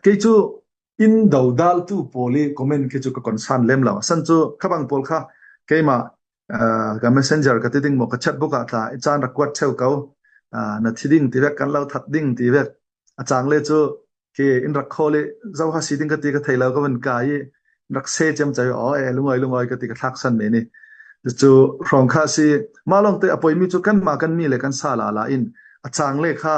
kei cu inn dodaltu pawl i comment khi cu ka concern lem lo san cu khabang pawl kha keimah ka messenger ka ti ding mo ka chat book ah tla i chan rak kuat cheu ko na thi ding ti vek kan lo that ding ti vek a chang le cu ke in rak khol i zo ha si ding ka ti ka thei lo ka van ka i rak se chem chai o e lungoi lungoi ka ti ka thak san me ni chu rong kha si ma long te apoi mi chu kan ma kan mi le kan sa la la in a chang le kha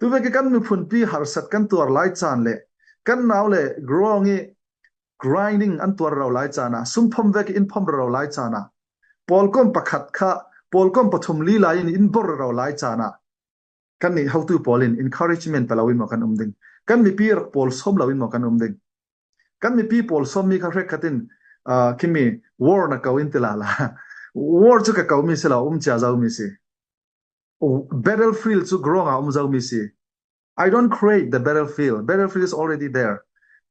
Tuvek i kan miphun pi harsat kan tuar lai caan le kan nau le growing i grinding an tuar ro lai caan ah sumphom vek in phom ro lai caan ah pawlkom pakhat kha pawlkom pathum lila in in bor ro lai caan ah kan nih hotu pawl in encouragement palo in mo kan um ding kan mipi rak pawl som lo in mo kan um ding kan mipi pawl som mi kha hrek khatin kimi war na ko in tila la war chu ka ko mi si lo um chia zo mi si battlefield cu ground ah um zomi si I don't create the battlefield battlefield is already there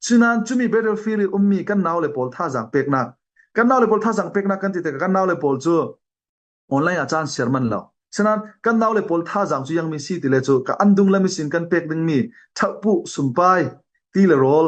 cunan cumi battlefield i ummi kan nau le pawl thazang peknak kan nau le pawl thazang peknak kan ti tikah kan nau le pawl cu online ah caan siar man lo senan kan nau le pawl thazang cu yang mi si ti le cu ka andung lemi sin kan pek dingmi thappu sumpai ti le rol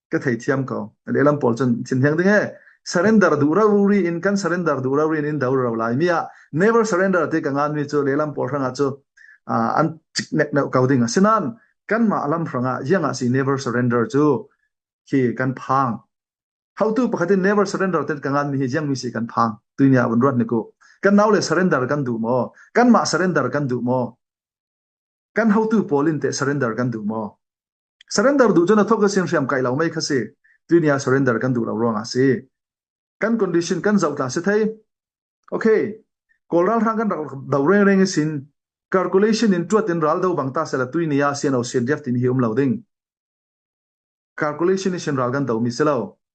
ka theithiam ko lehlam pawl cun chin heng ding he surrender duh ro ri in kan surrender duh ro ri in do ro lai mi ah never surrender te ka ngan mi cu lehlam pawl hranga cu an chik nek no ko ding sinan kan ma alam hranga yanga si never surrender cu khi kan phang hautu pakhatin never surrender te ka ngan mi hi yang mi si kan phang tuinya bun ruat niku kan naule surrender kan du mo kan ma surrender kan du mo Kan hotu pawl in teh surrender kan duh maw? Surrender duh cun a thok a sin hriam kai lo mei kha si. Tuini ah surrender kan duh lo ruangah si. Kan condition kan zoh tla si thei. Okay. Kawl ralhrang kan rak do reng reng isin. Calculation in tuat in ral do bang ta sela tuini ah sian o sian jef tin hi um lo ding. Calculation in ral kan do mi selo.